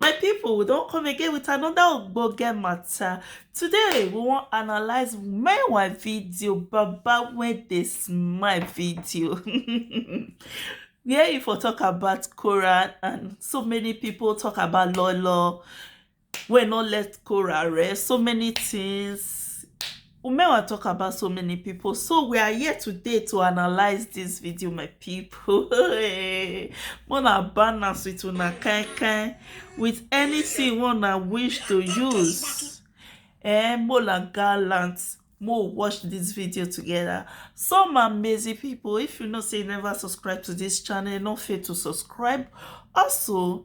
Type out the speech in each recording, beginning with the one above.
my people we don't come again with another ogbonge matter today we wan analyze meanwhile video baba when they smile video where you for talk about Quran and so many people talk about lolo wey not let Quran rest so many things Umewa talk about so many people so we are here today to analyze this video my people mona balance with una kind kind with anything wanna wish to use eh mola gallant more watch this video together some amazing people if you know say you never subscribe to this channel no fail to subscribe also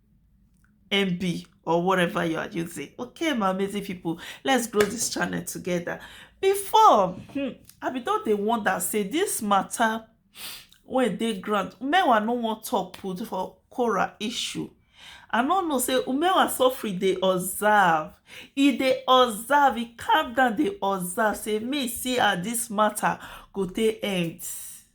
MB or whatever you are using. Okay, my amazing people, let's grow this channel together. Before, hmm, I be thought they want that say this matter when they grant, Umewa no want talk put for Cora issue. I don't know say Umewa suffering they observe. If they observe, he calm down they observe. Say me see how this matter go take end.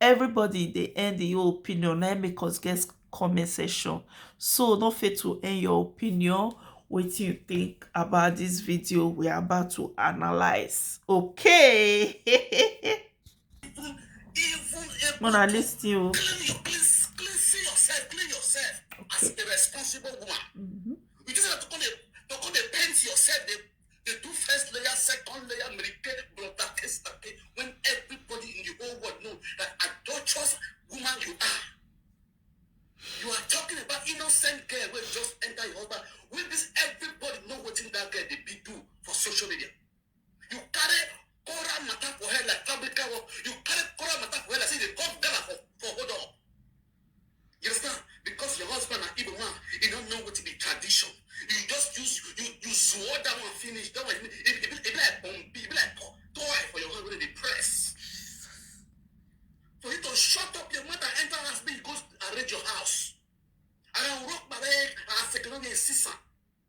everybody dey end im own opinion na im make us get comment section so no fail to end your opinion wetin you think about this video we are about to analyze okay una lis ten o. Okay. They do first layer, second layer, meripe, brother, estate, when everybody in the whole world know that adulterous woman you are. You are talking about innocent girl who just enter your husband. Will this everybody know what in that girl they be do for social media? You carry Cora matter for her like fabrica work. You carry Cora matter for her like say they come Ghana for, for hold on. You understand? Because your husband na Igbo man, he don't know what to be tradition. You just use you you swore that one finish. That one it, it, it, it be like um, it be like po- toy for your husband to press. For you to shut up your mother, enter her husband, go arrange your house. And I rock my leg, I say, "Can I be a sister?"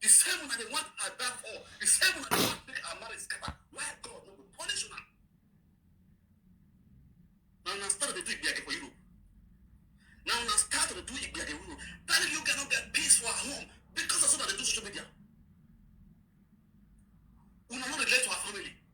The same una dey want Ada for. The same una dey want make her marriage scatter. Why God no go punish una? Na una start dey do igbiyage for Europe. Na una start dey do igbiyage for Europe. That you guys no get peace for her home because of so that they do social media. Una no relate to her family.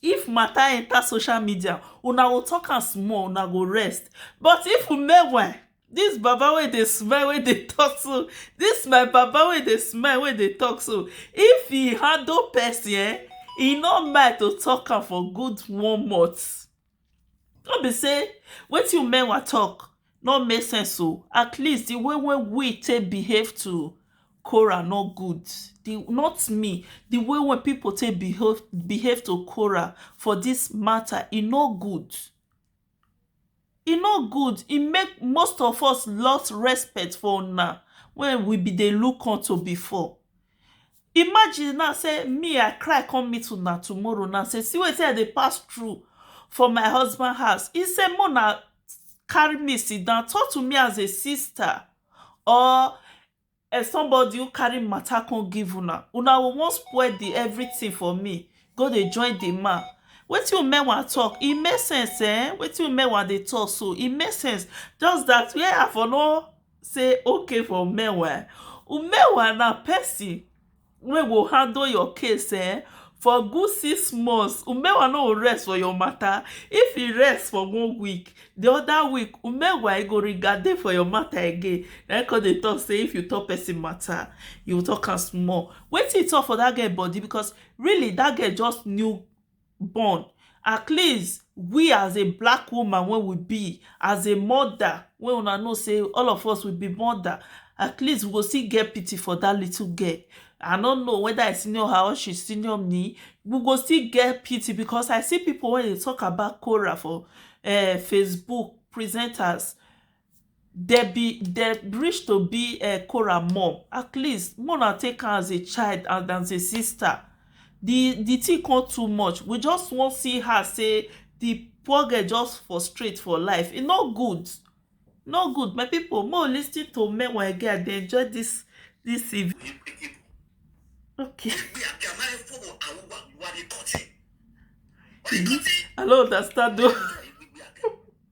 If matter enter social media, una go talk am small, una go rest. But if we make well, this baba wey dey smile wey dey talk so, this my baba wey dey smile wey dey talk so, if he handle person eh, he no mind to talk am for good one month. No be sey wetin Umenwa talk no make sense oh. At least the way wey we take behave to Korah no good. The not me. The way wey pipu take behave behave to Korah for dis matter, e no good. E no good. E make most of us lost respect for una wey we been dey look unto before. Imagine now say me I cry come meet una tomorrow now say see wetin I dey pass through for my husband house. He say make una carry me sit down talk to me as a sister or as somebody who carry matter come give una. Una go wan spoil the everything for me go dey join the man. Wetin Umenwa talk e make sense um wetin Umenwa dey talk so e make sense just that where I for no say okay for meanwhile meanwhile na person wey go handle your case um for good six months meanwhile no go rest for your matter if e rest for one week the other week meanwhile e go regade for your matter again na him come dey talk say if you talk person matter you talk am small wetin he talk for that girl body because really that girl just knew born at least we as a black woman wey we be as a mother wey una know sey all of us we be mother at least we go still get pity for that little girl I no know whether I senior her or she senior me we go still get pity because I see people wey dey talk about Korah for um Facebook presenters dem be dem reach to be um Korah mum at least make una take am as a child and as a sister the the thing come too much we just wan see her say the poor girl just frustrate for life e no good e no good my people make we lis ten to men we get as they enjoy this this in okay i no understand o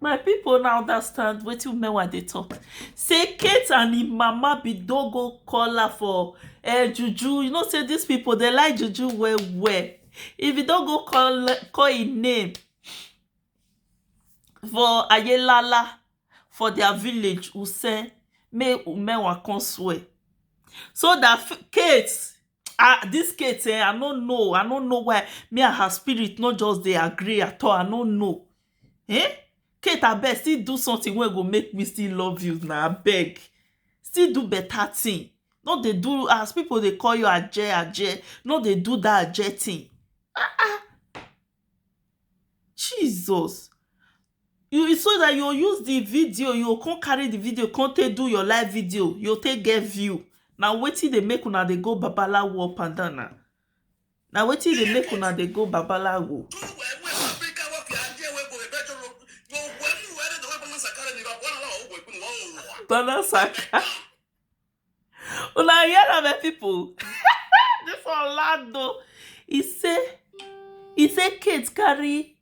My people una understand wetin Umewa dey talk. Say Kate and him mama be don go call her for uh, juju. You know say these people they like juju well well. If you don go call call him name for Ayelala for their village, we say make Umewa come swear. So that F- Kate ah this Kate eh, I no know, I no know why me and her spirit no just dey agree at all. I no know. um Kate abeg still do something wey go make me still love you na abeg still do better thing no dey do as people dey call you aje aje no dey do that aje thing um Jesus you will so that you go use the video you go come carry the video come take do your live video you go take get view na wetin dey make una dey go babalawo up and down na na wetin dey make una dey go babalawo Tana Saka. Una hear am, my people. this one loud though. He say, he say Kate carry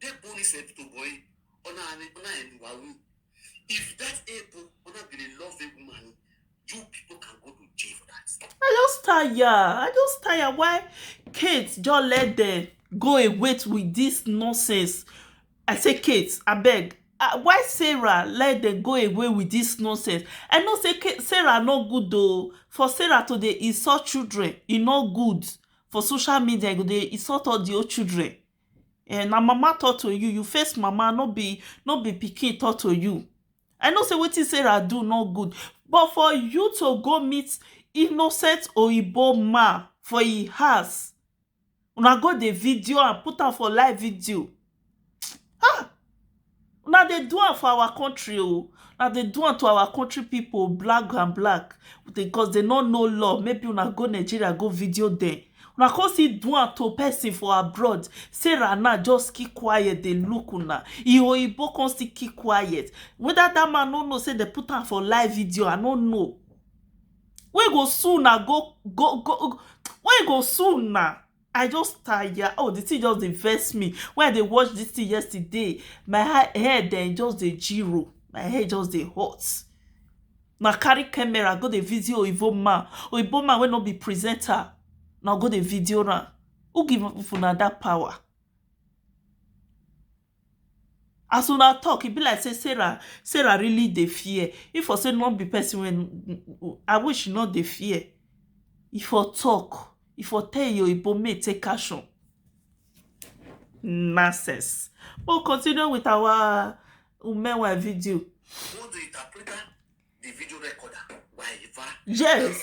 They born this a little boy. Ona ani ona enu wawu. If that able ona be a love a woman, you people can go to jail for that. I just tire. I just tire why Kate just let them go away with this nonsense. I say Kate, I beg. Uh, why Sarah let them go away with this nonsense? I know say Kate, Sarah no good though. For Sarah to dey insult children, e no good. For social media, e go dey insult all the old children. um na mama talk to you, you face mama no be no be pikin talk to you. I know sey wetin Sarah do no good but for you to go meet innocent oyibo man for im house una go dey video am put am for live video um Una dey do am for our country oh Una dey do am to our country people black and black because they no know law maybe una go Nigeria go video them Una come still do am to person for abroad Sarah now just keep quiet dey look una Im oyibo come still keep quiet whether that man no know say they put am for live video I no know Wey go sue una go go go Wey go sue una I just tire oh the thing just dey vex me when I dey watch this thing yesterday my head dem just dey jiro my head just dey hot na carry camera go dey video oyibo man oyibo man wey no be presenter na go dey video am who give una that power As una talk e be like say Sarah Sarah really dey fear if for say no be person wey I wish she no dey fear e for talk e for tell him oyibo make e take action nonsense make we continue with our meanwhile video yes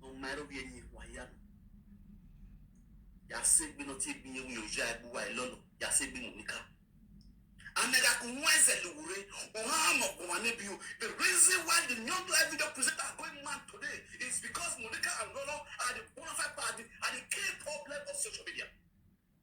no maro bi enyi wa ya no ya se gbe no ti gbi ewu yo ja egbu wa ilo no ya se gbi mu nika anega ku nwa eze luwure oha ha mo gwa ne bi o the reason why the new life video presenter are going mad today is because monica and lolo are the bona fide are the, are the key problem of social media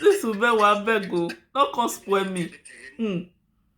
this woman wey abeg o no come spoil me. Mm.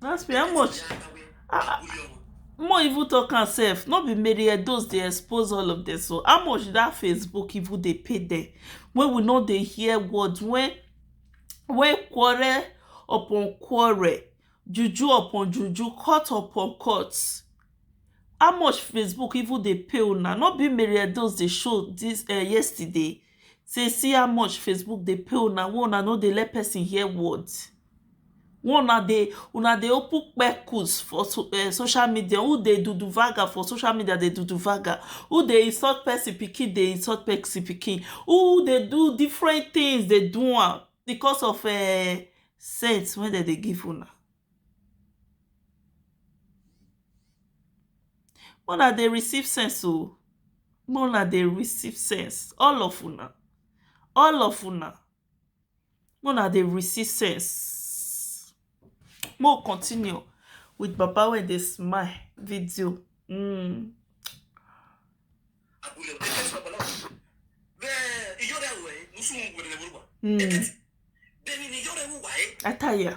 That's be how much? Ah, more even talk am sef no be mary edos dey expose all of them so how much that facebook even dey pay them? wey we no dey hear words wey wey quarrel upon quarrel, juju upon juju, cut upon cut how much Facebook even dey pay una? no be Mary Edoz dey show dis um yesterday sey see how much Facebook dey pay una wey una no dey let person hear word Una dey una dey open kpekus for social media u dey do do vaga for social media dey do do vaga u dey insult person pikin dey insult person pikin u dey do different things dey do am because of um sense wey dem dey give una make una dey receive sense oo make una dey receive sense all of una all of una Make una dey receive sense. Make we continue with baba wey dey smile video um. um I tire.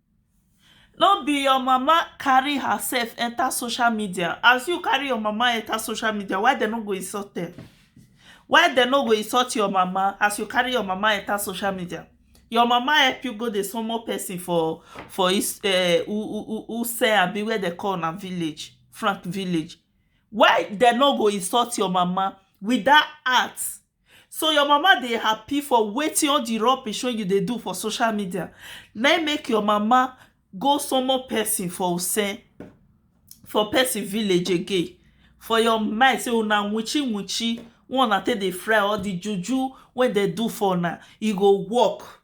No be your mama carry herself enter social media, as you carry your mama enter social media why dem no go insult dem? Why dem no go insult your mama as you carry your mama enter social media? Your mama help you go dey somoh person for for um Wuse abi where dem call una village, front village. Why dem no go insult your mama with dat heart So your mama dey happy for wetin all the rubbish wey you dey do for social media na im make your mama go summon person for Use for person village again for your mind say una witchy witchy wey una take dey fry or the juju wey dem do for una e go work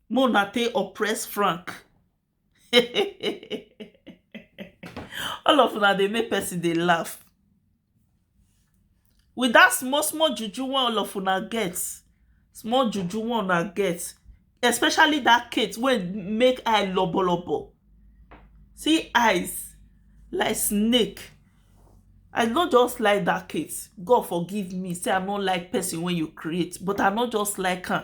make una take oppress Frank all of una dey make person dey laugh with that small small juju wey all of una get small juju wey una get especially that Kate wey make eye lobo lobo see eyes like snake I no just like that Kate God forgive me say I no like person wey you create but I no just like am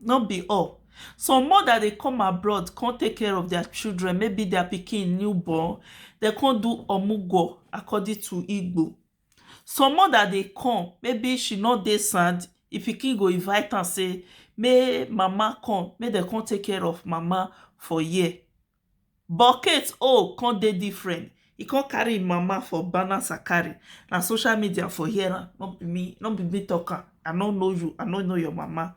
no be all some mother dey come abroad come take care of their children maybe their pikin new born dem come do omugwo according to igbo some mother dey come maybe she no dey sound the pikin go invite am say make mama come make dem come take care of mama for here But Kate own come dey different, e come carry im mama for banner sakari, na social media for hear am, no be me, no be me talk am, I no know you, I no know your mama.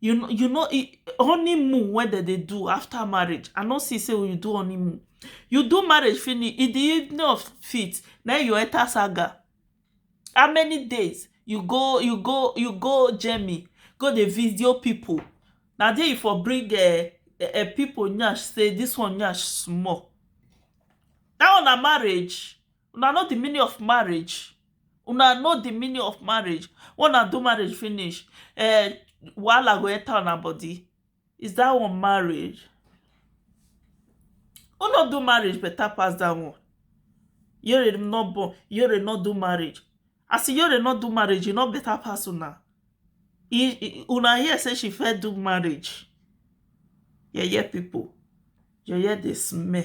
you know you know e- honeymoon wey dem dey do after marriage i no see say you do honeymoon you do marriage finish in the evening of fit na you enter saga how many days you go you go you go germany go dey video people na there you for bring uh, uh, people nyash say this one nyash small that one na marriage Una know the meaning of marriage? Una know the meaning of marriage? When una do marriage finish, uh, wahala go enter una body. Is that one marriage? Who not do marriage better pass that one? Yore not born, Yore not do marriage. As Yore not do marriage, you not better pass una. Una here say she fair do marriage. Yeah, yeah, people. Yeah, yeah, they smell.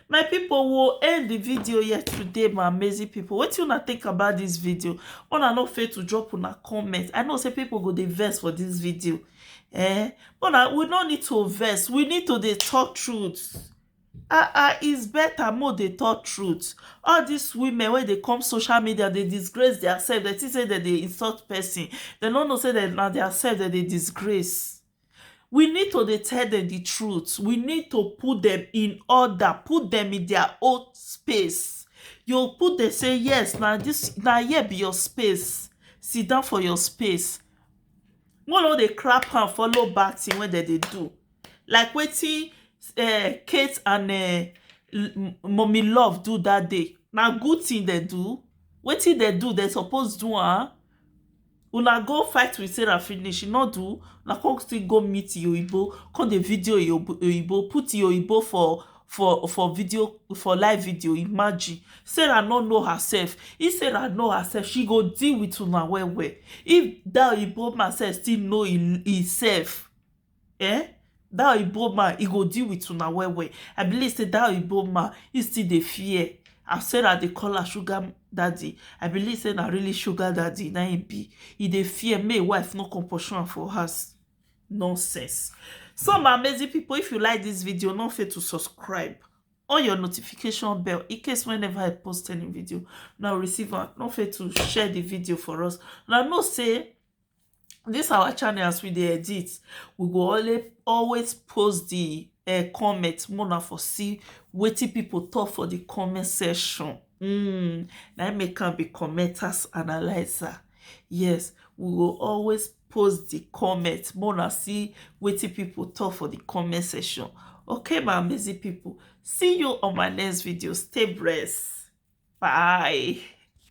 my people will end the video yet today my amazing people what you not think about this video una no fail to drop on a comment i know say people go the verse for this video eh but uh, we no need to verse we need to the talk truth ah ah is better more dey talk truth all these women when they come social media they disgrace their self. They think say that they insult person They no know say that na their self that they disgrace we need to dey tell dem di truth we need to put dem in order put dem in dia own space you go put dem say yes na dis na here be your space sit down for your space make we no dey clap hand follow bad tin wey dem dey do like wetin um kate and um mummy love do dat day na good tin dem do wetin dem do dem suppose do am Una go fight with Sarah finish, she no do, una come still go meet Iyoibo, come dey video Iyoibo, put Iyoibo for for for video for live video imagine sarah no know herself if sarah know herself she go deal with una well well if that oyibo man sef still know himself eh that oyibo man e go deal with una well well i believe say that oyibo man he still dey fear as sarah dey call her sugar daddy i believe say na really sugar daddy na him be he dey fear make him wife no come pursue am for house nonsense so my amazing people if you like this video no fail to subscribe on your notification bell in case whenever i post any video now receive am no fail to share the video for us now know say this our channel as we dey edit we go always always post the uh, comment make una for see wetin people talk for the comment section mm, na im make am be commenters analyzer yes we go always post the comment make una see wetin people talk for the comment section okay my amazing people see you on my next video stay blessed bye